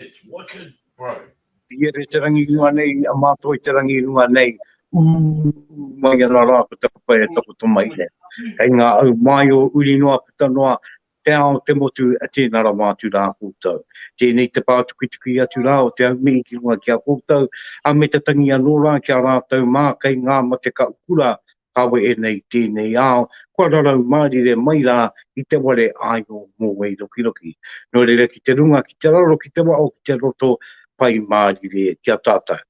It's wicked bro. Piere te rangi runga nei, a Mātoi te rangi runga nei, ū, ū mai ana rā ko taku whare takoto mai nei. Kei ngā au māi o uri noa puta noa, te ao, te motu, a tēnā rawa atu rā koutou. Tēnei te pātukituki atu rā o te aumihi ki runga ki a koutou, a me te tangi anō rā ki a rātou mā kei ngā mate ka ukura kawe ēnei i tēnei ao, kua rarau mārire mai rā i te ware āio mō Wairokiroki. Nō reira ki te runga, ki te raro, ki te waho, ki te roto, pai mārire ki a tātou.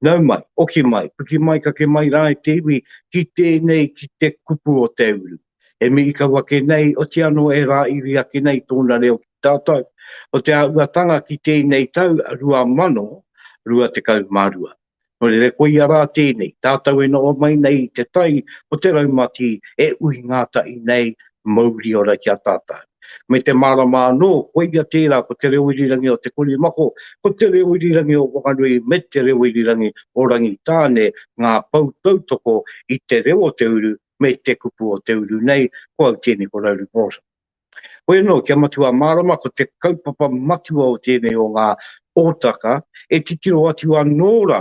Nau mai, oki mai, piki mai kake mai rā e te iwi, ki tēnei, ki te kupu o te uru. E mihi kau ake nei, oti anō e rāiri ake nei tōna reo ki tātou, o te āhuatanga ki tēnei tau 2022. Nōreira koia rā tēnei, tātou e noho mai nei i te tai o te raumati e uhi ngātahi nei mauri ora ki a tātou. Me te mārama anō, koia tērā ko te reo irirangi o Te Korimako, ko te reo irirangi o Whanganui me te reo irirangi o Rangitāne ngā pou tautoko i te reo o te uru me te kupu o te uru nei, ko au tēnei ko Rauri Morrison. Hoi anō, kia matua mārama ko te kaupapa matua o tēnei o ngā hōtaka e titiro atu anō rā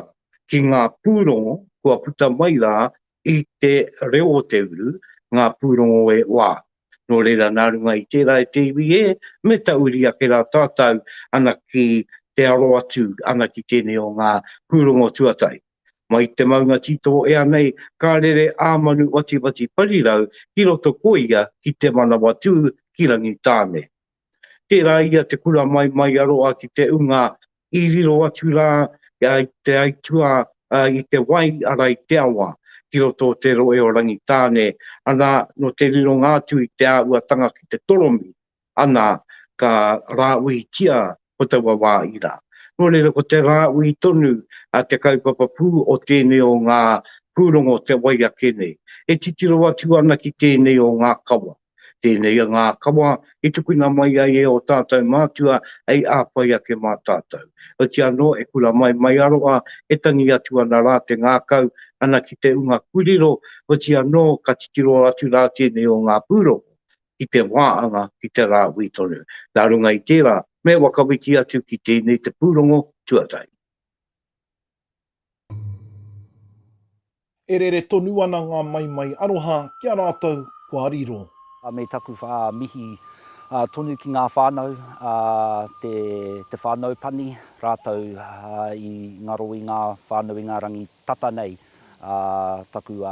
ki ngā pūrongo kua puta mai rā i te reo o te uru, ngā pūrongo e wā. Nō reira, nā runga i tērā e te iwi e meta uri ake rā tātau ana ki te aro atu ana ki tēnei o ngā pūrongo tuatahi. Mai te maunga titoo ea nei, ka rere a Manu Watiwati Parirau ki roto ko ia ki Te Manawatū ki Rangitāne. Tērā ia te kura mai mai a roa ki te unga i riro atu rā i te aituā i te wai ara i te awa ki roto o te roe o Rangitāne, ana no te rironga atu i te āhuatanga ki te toromi ana ka rāuitia ko taua wā ira. Nō reira ko te rāui tonu a te kaupapa pū o tēnei o ngā pūrongo te wai ake nei. E titiro atu ana ki tēnei o ngā kawa. Tēnei o ngā kawa i tukuna mai ai e ō tātou mātua hei āwhai ake mā tātou. Heoti anō, e kura mai mai aroha, e tangi atu ana rā te ngākau ana ki te unga kūrero, heoti anō ka titiro atu rā tēnei o ngā pūrongo ki te wā anga ki te rāhui tonu. Nā runga i tērā, me whakawhiti atu ki tēnei te pūrongo tuatahi. E rere tonu ana ngā maimai aroha ki a rātou kua riro. Me taku mihi tonu ki ngā whānau, te whānau pani rātou i ngaro i ngā whānau i ngā rangi Tata nei taku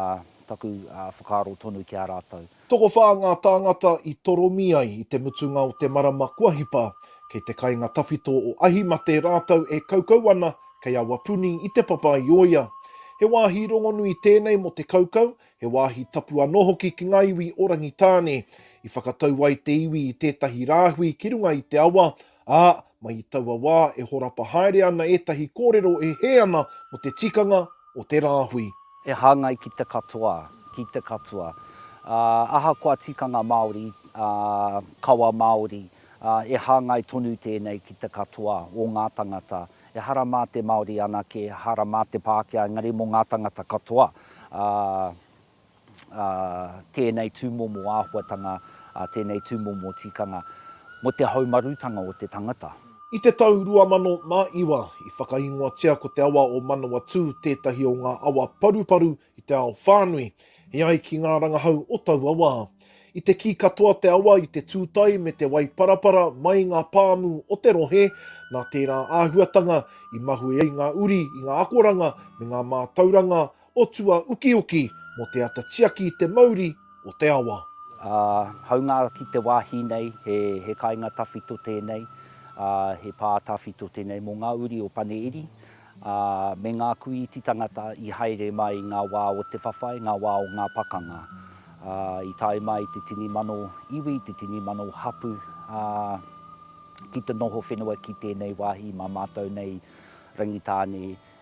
whakaaro tonu ki a rātou. Tokowhā ngā tāngata i toromi ai i te mutunga o te marama kua hipa, kei te kainga tawhito o Ahimate rātou e kaukau ana kei Awapuni i Te Papa-i-ōia. He wāhi rongonui tēnei mō te kaukau, he wāhi tapu anō hoki ki ngā iwi o Rangitāne. I whakatau ai te iwi i tētahi rāhui ki runga i te awa, Ā, mai i taua wā e horapa haere ana ētahi kōrero e hē ana mō te tikanga o te rāhui. E hāngai ki te katoa, ki te katoa. Ā, ahakoa tikanga Māori, ā, kawa Māori, ā, e hāngai tonu tēnei ki te katoa o ngā tangata. Ehara mā te Māori anake, ehara mā te Pākehā, engari mō ngā tangata katoa, ā, ā, tēnei tūmomo āhuatanga, ā, tēnei tūmomo tikanga mō te haumarutanga o te tangata. I te tau 2009, i whakaingoatia ko te awa o Manawatū tētahi o ngā awa paruparu i te ao whānui, e ai ki ngā rangahau o taua wā. I te kī katoa te awa i te tūtae me te waiparapara mai ngā pāmu o te rohe, nā tērā āhuatanga i mahue ai ngā uri i ngā akoranga me ngā mātauranga o tua ukiuki mō te ata tiaki i te mauri o te awa. Ā, haunga ki te wāhi nei, he, he kainga tawhito tēnei, ā, he pā tawhito tēnei mō ngā uri o Pane Iri, ā, me ngā kuīti tangata i haere mai i ngā wā o te whawhai, ngā wā o ngā pakanga. Ā, i tae mai i te tini mano iwi, te tini mano hapū, ā, ki te noho whenua ki tēnei wāhi mā mātou nei Rangitāne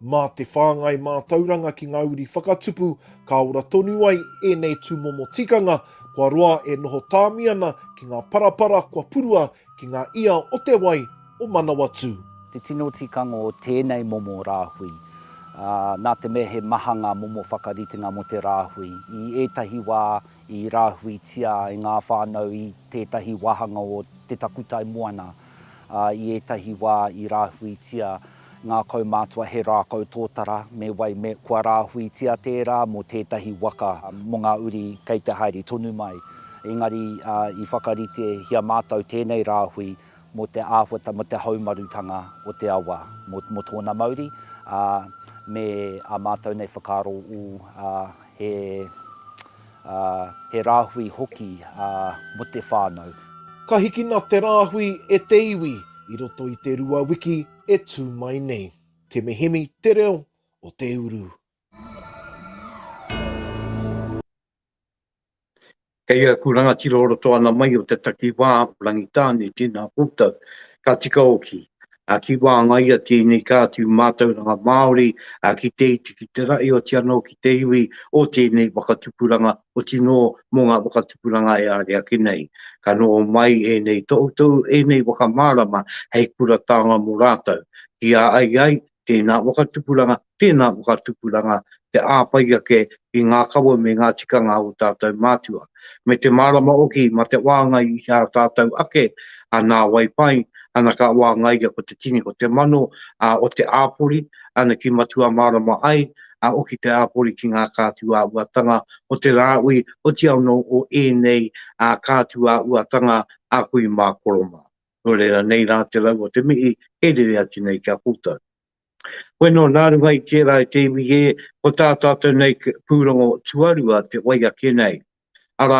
Mā te whāngai mātauranga ki ngā uri whakatupu ka ora tonu ai ēnei tūmomo tikanga kua roa e noho tāmi ana ki ngā parapara kua purua ki ngā ia o te wai o Manawatū. Te tino tikanga o tēnei momo rāhui, ā, nā te mea he maha ngā momo whakaritenga mō te rāhui, i ētahi wā i rāhuitia e ngā whānau i tētahi wāhanga o te takutai moana, ā, i ētahi wā i rāhuitia ngā kaumātua he rākau tōtara, me wai me kua rāhuitia tērā mō tētahi waka mō ngā uri kei te haere tonu mai. Engari i whakaritehia mātou tēnei rāhui mō te āhuata, mō te haumarutanga o te awa, mō tōna mauri, ā, me ā mātou nei whakaaro ū, ā, he. ā, he rāhui hoki mō te whānau. Ka hikina te rāhui e te iwi i roto i te rua wiki e tū mai nei. Te Mihimi te reo o te uru. Kei aku rangatira o roto ana mai o te takiwā o Rangitāne, tēnā koutou. Ka tika oki. ā, ki wāngaia tēnei ka atu mātauranga Māori ki te iti, ki te rahi oti anō ki te iwi o tēnei whakatupuranga, oti nō mō ngā whakatupuranga e āre ake nei. Ka noho mai ēnei tohutohu, ēnei whakamārama hei kura taonga mō rātou, ki a ai ai tēnā whakatupuranga Tēnā ko kā tupuranga te āwhai ake i ngā kawa me ngā tikanga o tātou mātua, me te mārama hoki mā te wāngai i ā tātou ake a nāwai pai ana ka wāngaia ko te tini ko te mano a o te āpori ana ki matua mārama ai a oki te āpori ki ngā kātu ā uatanga o te rāui oti anō o ēnei a kātu ā uatanga a kui mā koro mā. Nō reira nei rā te rau o te mihi e rere atu nei ki a koutou. Koe nō nā runga i tērā e te iwi ē, ko tā tātou nei pūrongo tuarua te wai ake nei. Arā,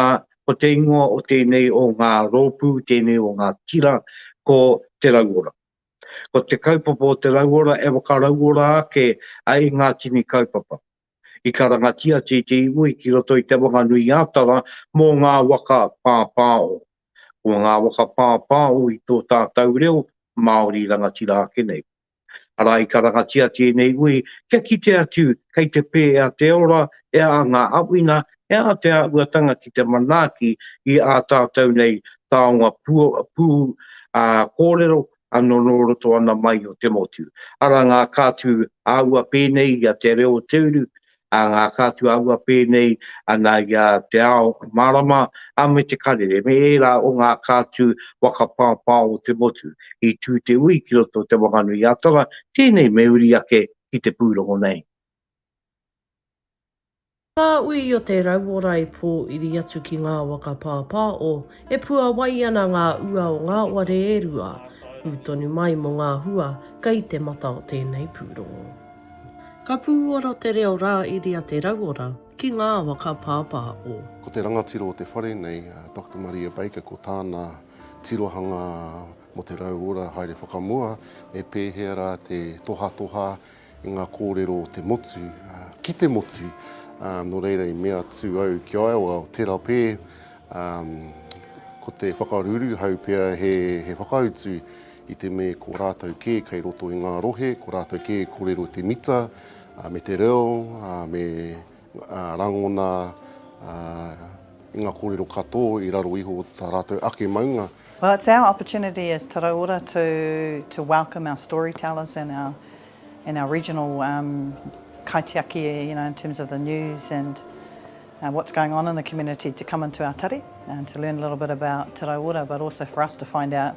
ko te ingoa o tēnei o ngā rōpū, tēnei o ngā tira, ko Te Rauora. Ko te kaupapa o Te Rauora e whakarauora ake ai i ngā tini kaupapa. I karangatia Te Iti Iwi ki roto i Te Whanganui-ā-Tara mō ngā waka pāpāo. Ko ngā waka pāpāo i tō tātou reo, Māori rangatira ake nei. Arā, i karangatia tēnei ui kia kite atu kei te pē e a te ora, e a ngā awina, e a te āhuatanga ki te manaaki i ā tātou nei taonga pū ā kōrero anō nō roto ana mai o te motu. Arā ngā kātū āua pēnei i a Te Reo o Te Uru, a ngā kātuāhua pēnei ana i a Te Ao Mārama a me Te Karere me ērā o ngā kātu waka pāpao o te motu i tū te ui ki roto o Te Whanganui-a-Tara, tēnei me uri ake ki te pūrongo nei. Ngā ui o te rauora i pōiri atu ki ngā waka pāpao, e puawai ana ngā ua o ngā ware e rua, pū tonu mai mō ngā hua kei te mata o tēnei pūrongo. Ka pūoro te reo rā iria te rauora ki ngā awa ka pāpā o. Ko te rangatira o te whare nei, a Doctor Maria Baker, ko tāna tirohanga mō te rauora haere whakamua, me pēhea rā te tohatoha i ngā kōrero o te motu, ki te motu, nō reira i mea atu au ki a ia, tērā pē, ko te whakaruru hau pea he whakautu I te me ko rātou kē kei roto i ngā rohe, ko rātou kē e kōrero te mita, me te reo, me rangona i ngā kōrero katō i raro iho o tā rātou ake maunga. Well it's our opportunity as Taraiora to to welcome our storytellers and our and our regional um kaitiaki you know in terms of the news and uh what's going on in the community to come into our tari and to learn a little bit about Taraiora but also for us to find out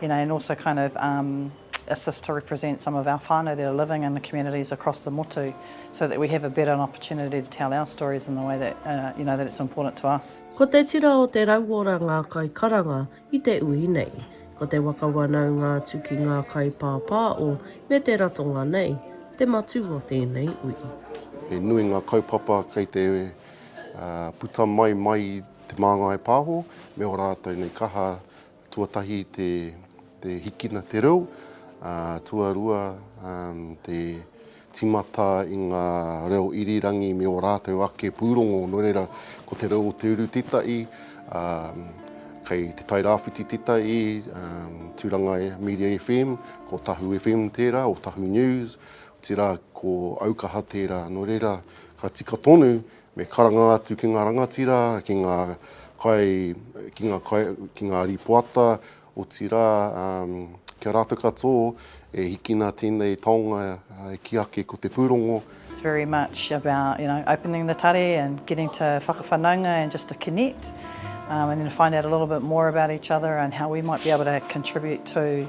you know, and also kind of um, assist to represent some of our whānau that are living in the communities across the motu so that we have a better opportunity to tell our stories in the way that, uh, you know, that it's important to us. Ko te tira o te rauora ngā kai karanga i te ui nei. Ko te waka wanau ngā tu ki ngā kai pāpā o me te ratonga nei, te matū o tēnei ui. He nui ngā kaupapa kei te uh, puta mai mai te māngai pāho, me o rātou nei kaha Tuatahi te hikina te reo, tuarua te timata i ngā reo irirangi me o rātou ake pūrongo, no reira ko te reo o te uru tetahi, kei Te Tai Rāwhiti tetahi, Turanga Media FM, ko Tahu FM tērā, o Tahu News, otirā ko Aukaha tērā, no reira ka tika tonu Me karanga atu ki ngā rangatira, ki ngā kai, ki ngā kai, ki ngā rīpoata, otirā, ki a rātou katō e hikina tēnei taonga ki ake ko te pūrongo. It's very much about, you know, opening the tare and getting to whakawhanaunga and just to connect and then to find out a little bit more about each other and how we might be able to contribute to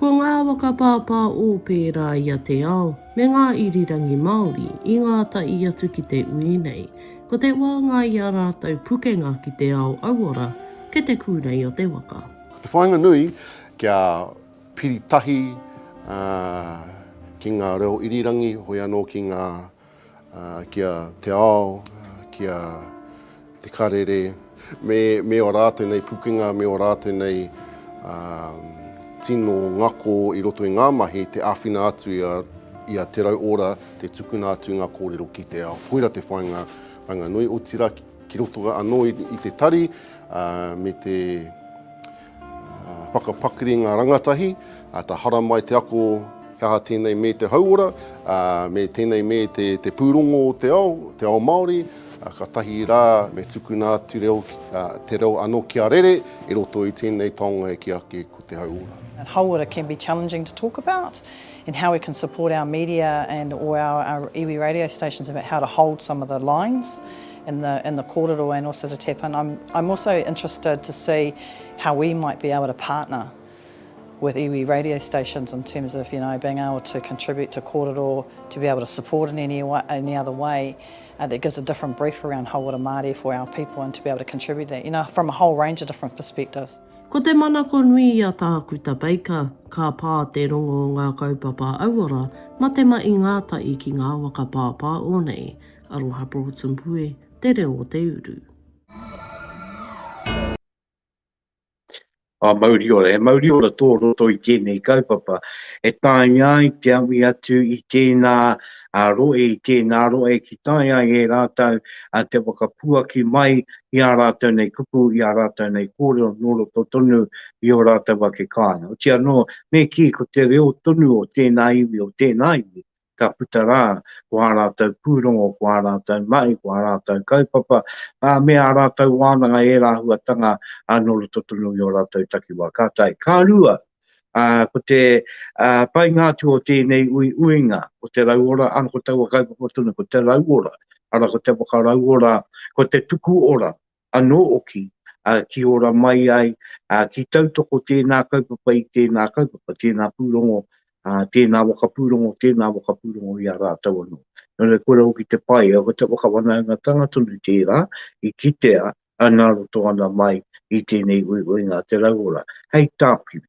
Ko ngā awa ka pāpā ō pērā i a Te Ao me ngā irirangi Māori i ngā tahi atu ki te ui nei. Ko te wāngai i a rātou pukenga ki te ao auora kei te kūrei o te waka. Ko te whāinga nui kia piri tahi ki ngā reo irirangi hoi anō ki ngā ki a te ao, ki a te karere, me, me o rātou nei pukenga, me o rātou nei um, tino ngako i roto i ngā mahi, te āwhina atu i a, i a Te Rau Ora, te tukuna atu ngā kōrero ki te ao. Koira te whainga, whainga nui, o tira ki roto anō i, i te tari, uh, me te Whakapakari ngā rangatahi, āta haramai te ako he aha tēnei me te hauora, me tēnei me te pūrongo o te ao, te ao Māori, ka tahi rā me tukuna atu reo, te reo anō kia rere i roto i tēnei taonga e kī ake ko te hauora. Hauora can be challenging to talk about and how we can support our media and or our iwi radio stations about how to hold some of the lines. in the in the kōrero and also to tap in. I'm, I'm also interested to see how we might be able to partner with iwi radio stations in terms of you know being able to contribute to kōrero, to be able to support in any, way, any other way uh, that gives a different brief around Hauora Māori for our people and to be able to contribute that, you know, from a whole range of different perspectives. Ko te manako nui i a Tākuta Baker, ka pā te rongo o ngā kaupapa auora ma te ma i ngā tahi ki ngā waka pāpāo nei, Aroha Broughton Pue, te reo o te uru. Ā, mauri ora, he mauri ora tō roto i tēnei kaupapa e taea ai te awi atu i tēnā rohe, i tēnā rohe ki tae ai e rātou te whakapuaki mai i ā rātou nei kupu, i ā rātou nei kōrero nō roto tonu i ō rātou ake kāinga. Otianō, me kī, ko te reo tonu o tēnā iwi, o tēnā iwi, ka puta rā, ko ā rātou pūrongo, ko ā rātou mahi, ko ā rātou kaupapa, ā, me ā rātou wānanga i ērā āhuatanga nō roto tonu i ō rātou takiwā. Ka tae. Ka rua, ko te painga atu o tēnei uiuinga, ko te rauora, ā, ko taua kaupapa tonu, ko te rauora, arā, ko te whakarauora, ko te tuku ora, anō hoki, ā, ki ora mai ai, ā, ki tautoko tēnā kaupapa i tēnā kaupapa, tēnā pūrongo, ā, tēnā waka pūrongo, tēnā waka pūrongo i a rātou anō. Nō reira, kua hoki te pai, aua te whakawhanaungatanga tonu tērā i kitea nā roto ana mai i tēnei uiuinga a te rauora. Hei tāpiri,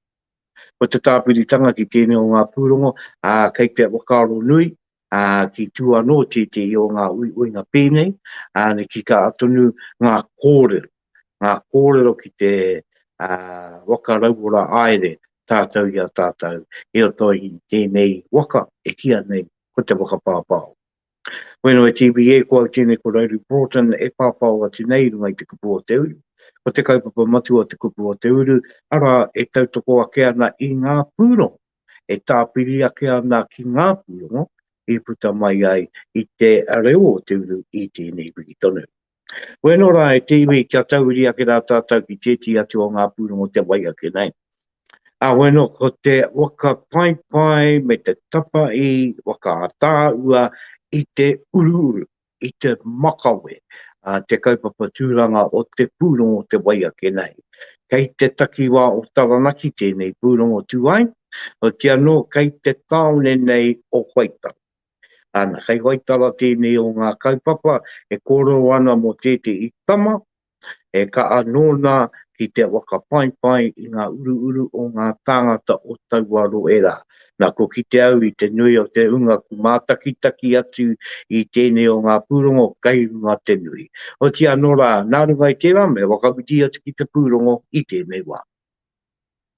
ko te tāpiritanga ki tēnei o ngā pūrongo, ā, kei te whakaaro nui, ā, ki tua anō tētehi o ngā uiuinga pēnei, ā, ki tā tonu ngā kōrero, ngā kōrero ki te, ā, waka rauora aere tātou i a tātou i roto i tēnei waka e kīa nei ko te whakapāpāo. Whenua TVA ko au tēnei ko Rowley Broughton e pāpāo atu nei i runga i te kupu o te uru. Ko te kaupapa matua o te kupu o te uru, arā, e tautoko ake ana i ngā pūrongo. e tāpiri ake ana ki ngā pūrongo i puta mai ai i te reo o te uru i tēnei wiki tonu. Koe anō rā e te iwi kia tauiri ake rā tātou ki tētī atu o ngā pūrongo te wai ake nei. Āhoi anō, ko te whakapaipai me te tapa i whakaataahua i te uruuru. i te makawe a te kaupapa tūranga o te pūrongo Te Wai Ake Nahi. Kei te takiwā o Taranaki tēnei pūrongo tū ai, hoti anō kei te tāone nei o Waitara. Ana, kei Waitara tēnei o ngā kaupapa e kōrero ana mō tētehi tama E kaha nōna ki te whakapaipai i ngā uruuru o ngā tāngata o taua rohe rā. Nā, kua kite au i te nui o te hunga kū mātakitaki atu i tēnei o ngā pūrongo kei runga te nui. Otianō rā, nā runga i tērā me whakawhiti atu ki te pūrongo i tēnei wā.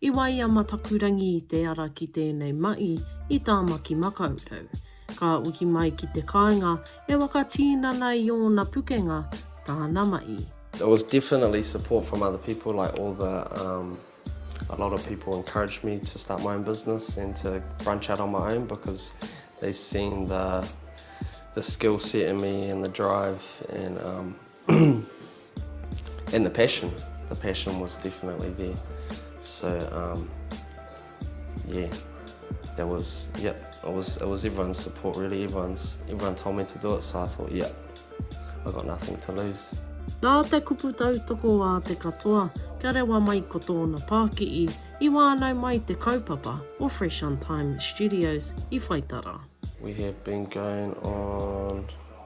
I wae a Matakurangi i te ara ki tēnei mahi i Tāmaki Makaurau. Ka uki mai ki te kāinga e waka tīnana i ōna pukenga tāna mahi. There was definitely support from other people like all the um a lot of people encouraged me to start my own business and to branch out on my own because they seen the the skill set in me and the drive and um and the passion the passion was definitely there so um yeah that was yeah it was it was everyone's support really everyone's everyone told me to do it so i thought yeah i got nothing to lose Nā te kupu tautoko a te katoa, kia rewa mai ko tōna pākihi, i wānau mai te kaupapa o Fresh on Time Studios i Whaitara. We have been going on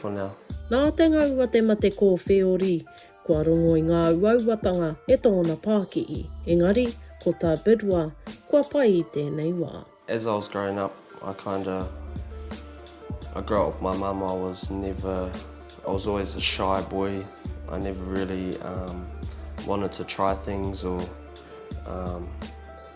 for now. Nā te ngau a te mate kōwhēori, kua rongo i ngā uauatanga e tōna pākihi, engari, ko tā Bidwa, kua pai i tēnei wā. As I was growing up, I kinda, I grew up with my mum, I was never, I was always a shy boy, I never really wanted to try things or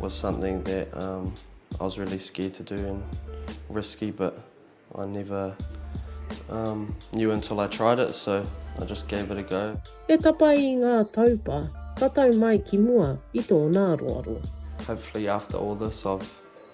was something that um I was really scared to do and risky but I never um knew until I tried it so I just gave it a go. E tapae i ngā taupa, ka tau mai ki mua i tōna aroaro. Hopefully after all this I've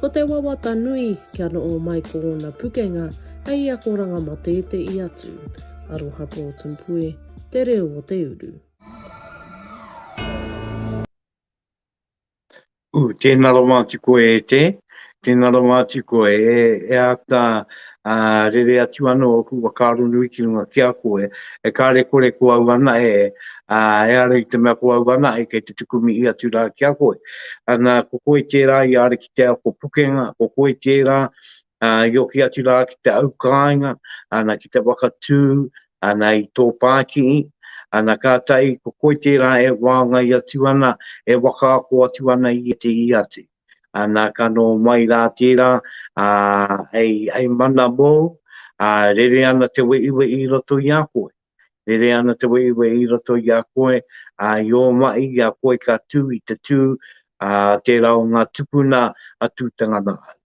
Ko te wawata nui, kia noho mai ko ōna pukenga hei akoranga mō tētehi atu. Aroha Porton Pue, Te Reo o te Uru. Ooh, tēnā rawa atu koe e Te. Tēnā rawa atu koe e ata ā, rere atu anō ōku whakaaro nui ki runga ki a koe, e karekore ko au anahe, ā, ehara i te mea ko au anahe kei te tuku mihi atu rā ki a koe. Ā, nā, ko koe tērā i āre ki te ako pukenga, ko koe tērā, ā, i hoki atu rā ki te au kāinga, ana, ki te whakatū, ana, i tō pākihi, ana, kātahi ko koe tērā e whāngai atu ana, e whakaako atu ana i ētehi atu. nā ka nō mai rā tērā, ā, hei, hei mana mōu, ā, rere ana te weʻiweʻi i roto i a koe. Rere ana te weʻiweʻi i roto i a koe, ā, i ō maʻi i a koe ka tū i te tū, ā, tērā o ngā tupuna a Tūtangana au.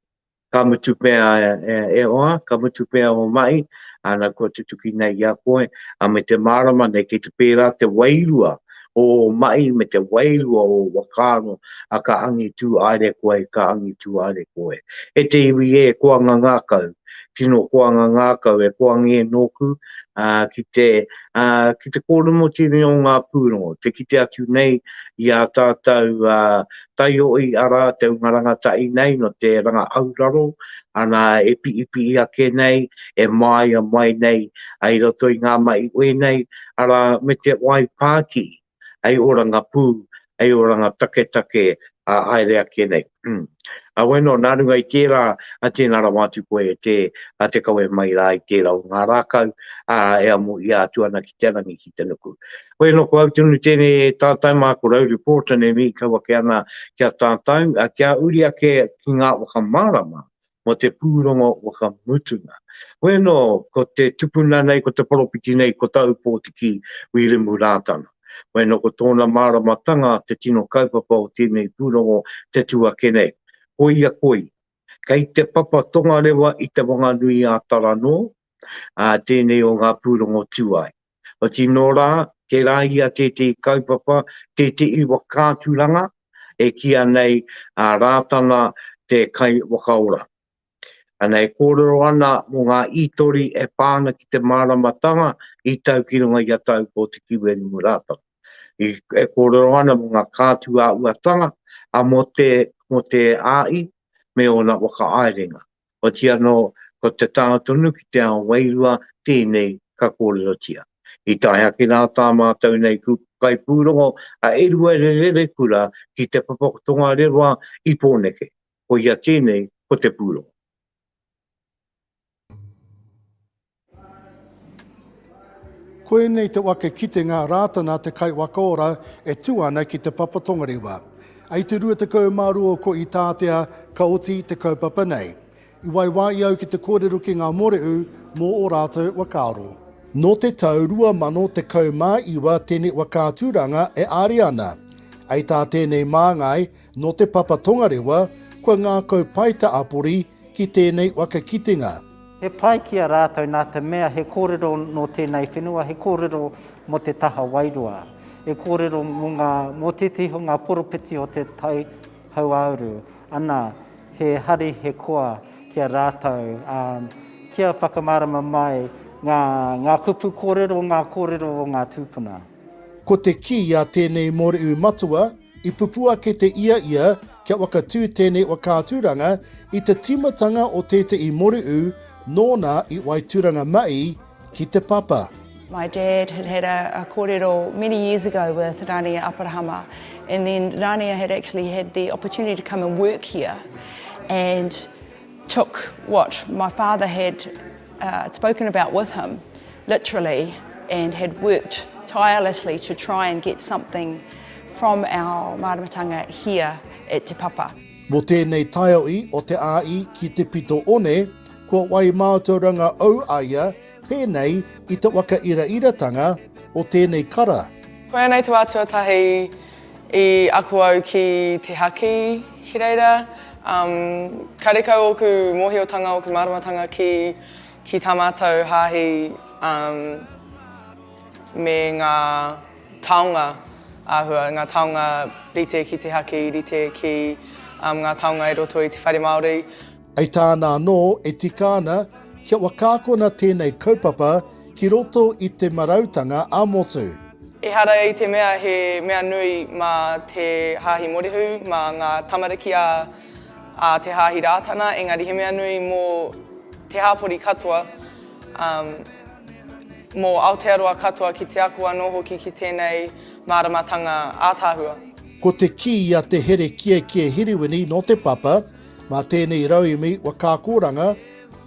Ka mutu pea e Oha, ka mutu pea o Mahi, ana kua tutuki nei i a koe, a me te mārama nei kei te pērā te wairua o ō mahi me te wairua o ō whakaaro, a ka angitū aere koe, ka angitū aere koe. E te iwi e koanga ngakau, tino koanga ngakau e koangie nōku, ā, ki te, ā, ki te kōromotini o ngā pūrongo, te kite atu nei i a tātou, ā, tae hoi ara te unga rangatahi nei no te ranga auraro ana e piipihi ake nei, e maaia mai nei ai roto i nga mahi uenei, ara me te wai paakii, ai oranga puu, ai oranga taketake a haere ake nei. Umm. Awe no, na runga i tera, a tena rawa atu koe e te, a te kawe mai ra i tera o nga rakau, a e amu ia atu ana ki te rangi ki te nuku. Hoi anō ko au tonu tēnei e tātai mā ko Rowley Porter nei mīkau ake ana ki a tātau, ā, kia uri ake ki ngā whakamārama mō te pūrongo whakamutunga. Hoi anō ko te tupuna nei, ko te poropiti nei, ko tāu pōtiki Wīrimu Rātana. Hoi anō ko tōna māramatanga te tino kaupapa o tēnei pūrongo te tū ake nei. Koia koi, kei te papa tongarewa i te Wanganui-ā-Tara nō, ā, tēnei o ngā pūrongo tū ai. Otirā nō rā, tērā ia tētehi kaupapa, tētehi whakaaturanga e kīia nei a Rātana te Kaiwhakaora. Ana e kōrero ana mō ngā ītori e pā ana ki te māramatanga i tau ki runga i a tau ko Te Kiwerimu Rātana. E kōrero ana mō ngā kātuāuatanga a Mote, Mote Āi me ōna whakaaerenga. Oti anō, ko te taha tonu ki te ao wairua tēnei ka kōrerotia. I tae ake rā tā mātou nei kupu kaipūrongo a Eruere Rerekura ki te papa tongarewa i Pōneke, koia tēnei ko te pūrongo. Koinei te wake kitenga Rātana te kaiwaka ora e tū ana ki Te Papa Tongarewa. I te 22 ko Itātea ka oti te kaupapa nei. I waiwāia au ki te kōrero ki ngā mōreū mō ō rātou whakaaro. Nō te tau 2019 tēnei whakaaturanga e āria ana. Hei tā tēnei māngai, nō Te Papa Tongarewa, kua ngākau pai te apori ki tēnei waka kitenga. He pai ki a rātou nā te mea he kōrero nō tēnei whenua, he kōrero mō te taha wairua, he kōrero mō ngā, mō tētehi o ngā poropiti o te tai hauāuru, ana, he hari, he koa ki a rātou, ā, kia whakamārama mai ngā, ngā kupu kōrero, ngā kōrero o ngā tūpuna. Ko te kī a tēnei mōrehu matua, I pupū ake te ia ia kia whakatū tēnei whakaaturanga i te tīmatanga o tētehi moreū nōna i Waitūranga Ma'i ki Te Papa. My dad had had a a korero many years ago with Rania Aparahama and then Rania had actually had the opportunity to come and work here and took what my father had uh, spoken about with him, literally, and had worked tirelessly to try and get something from our māramatanga here at Te Papa. Mō tēnei taiohi o te āi ki te pito one, kua wai mātauranga au a ia Pēnei i te wakairaira-tanga o tēnei kara. Koianei te wā tuatahi i ako au ki te haki ki reira. Karekau ōku mōhiotanga, ōku māramatanga ki tā mātou hāhi me ngā taonga āhua, ngā taonga rite ki te haki, rite ki ngā taonga i roto i te whare Māori. Hei tāna anō, e tika ana kia wakaakona tēnei kaupapa ki roto i te marautanga ā-motu. Ehara i te mea he mea nui mā te Hāhi Morihu, mā ngā tamariki a te Hāhi Rātana, engari he mea nui mō te hāpori katoa, mō Aotearoa katoa ki te ako anō hoki ki tēnei māramatanga ātaahua. Ko te kī a Te Here Kiekie Hiriwini nō Te Papa, Mā tēnei rauemi whakaakoranga,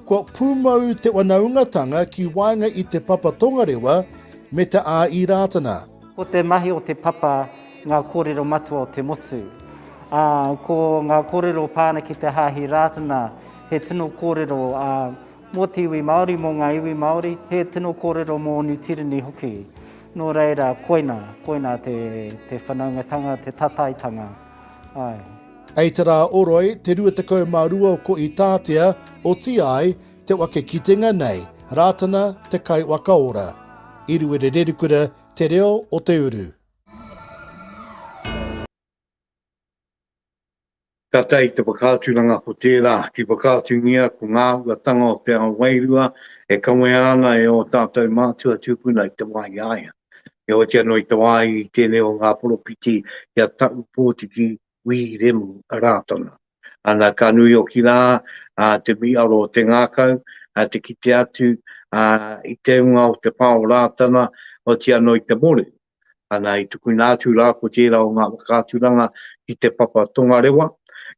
kua pūmau te wanaungatanga ki waenga i te papa tongarewa me te ā-īrātana. Ko te mahi o te papa ngā kōrero matua o te motu, ā, ko ngā kōrero pā ana ki te hāhi rātana, he tino kōrero mō te iwi Māori, mō ngā iwi Māori, he tino kōrero mō Niu Tīreni hoki. Nō reira, koina, koina te whanaungatanga, te tataitanga. Āe. Hei te rā o Roi, te 22 o Koitātea, otīa ai, te wake kitenga nei, Rātana, te kai waka ora. I Ruerererikura te reo o te uru. Tata i te whakaaturanga ko tērā, ki whakaatungia ko ngā uatanga o te ao wairua e kawea ana e ō tātou mātua tūpuna i te wāhi āia. He oti anō i te wā i tēnei o ngā poropiti i a Taʻu Pōtiki Wī Remu Rātana. Ana ka nui hoki rā te miiaro o te ngākau, te kite atu i te unga o te pā o Rātana, oti anō i te mōrehu. Ana i tukuna atu rā ko tērā o ngā whakaaturanga ki te papa tongarewa,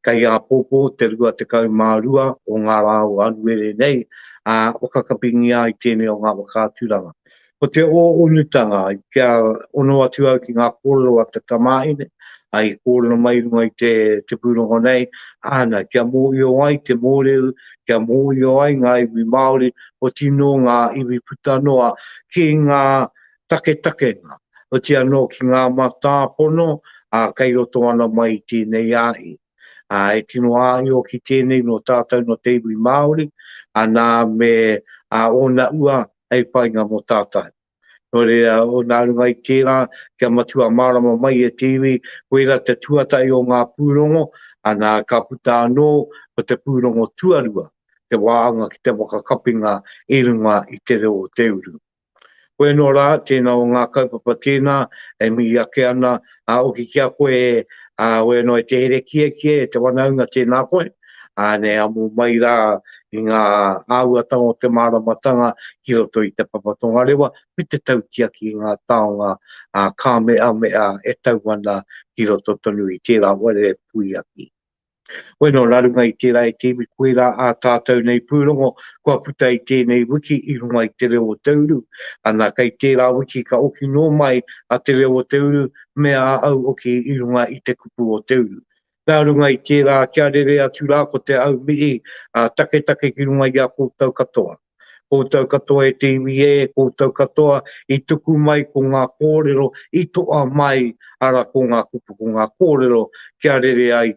kei āpōpō te 22 o ngā rā o Anuere nei, ā, whakakapingia ai tēnei o ngā whakaaturanga. Ko te ō-onutanga, kia ono atu au ki ngā kōrero a te tamāhine, i kōrero mai i runga i te pūrongo nei, āna, kia mōhio ai te mōreu, kia mōhio ai ngā iwi Māori, oti nō ngā iwi puta noa ki ngā taketakenga, oti anō ki ngā matāpono kei roto ana mai i tēnei ahi. Ā, e tino āio ki tēnei nō tātou nō te iwi Māori, anā, me ā, ōna ua hei painga mō tātou. Nō reira, nā runga i tērā, kia matua mārama mai e te iwi, koirā te tuatahi o ngā pūrongo, anā, ka puta anō ko te pūrongo tuarua, te wāhanga ki te whakakapinga i runga i te reo o te uru. Koe no ra, tena o nga kaupapa tena e mihi ake ana, a hoki ki a koe e, a oe no e te here kiekie e te wanaunga tena koe, a ne amu mai ra i nga auatanga o te maramatanga ki roto i te papa tongarewa me te tautiaki i nga taonga a Kameamea e tau ana ki roto tonu i tera ware puiaki. Wai nō rarunga i tērā e te iwi koirā ā tātou nei pūrongo kua puta i tēnei wiki i runga i Te Reo o Te Uru, ana kei tērā wiki ka oki nō mai a Te Reo o Te Uru me ā au oki i runga i te kupu o Te Uru. Nā runga i tērā kia rere atu rā ko te au mihi ā taketake ki runga i a koutou katoa. Koutou katoa e te iwi ē, koutou katoa i tuku mai ko ngā kōrero i toa mai, arā, ko ngā kupu, ko ngā kōrero kia rere ai,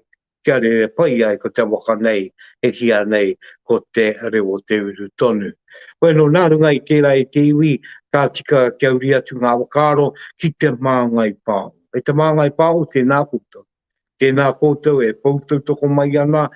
kia rere pai ai ko te waka nei e kīa nei ko Te Rewoteuru tonu. Bueno, nā runga i tērā e te iwi, ka tika kia uri atu ngā whakaaro ki Te Māngai Pāho. E Te Māngai Pāho, tēnā koutou. Tēnā koutou e pou tautoko mai ana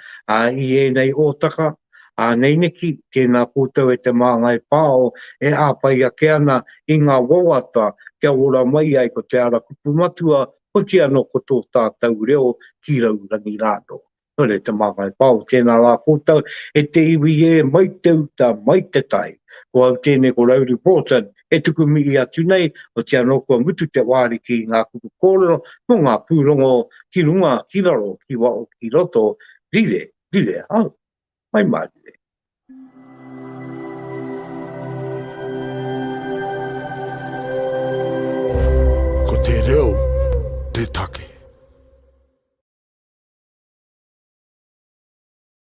i ēnei ōtaka āneineki, tēnā koutou e Te Māngai Pāo e āwhai ake ana i ngā wawata kia ora mai ai ko Te Ara Kupu Matua hoki anō ko tō tātou reo ki raurangi rānō. Nō reira Te Māngai Pāo, tēnā rā koutou e te iwi ē, mai te uta, mai te tai. Ko au tēnei ko Rowley Broughton, E tuku mihi atu nei, otiia anō kua mutu te wāri ki ngā kupu kōrero mō ngā pūrongo ki runga, ki raro, ki waho, ki roto, rire, rire au. Mai mārire. Ko te reo te take.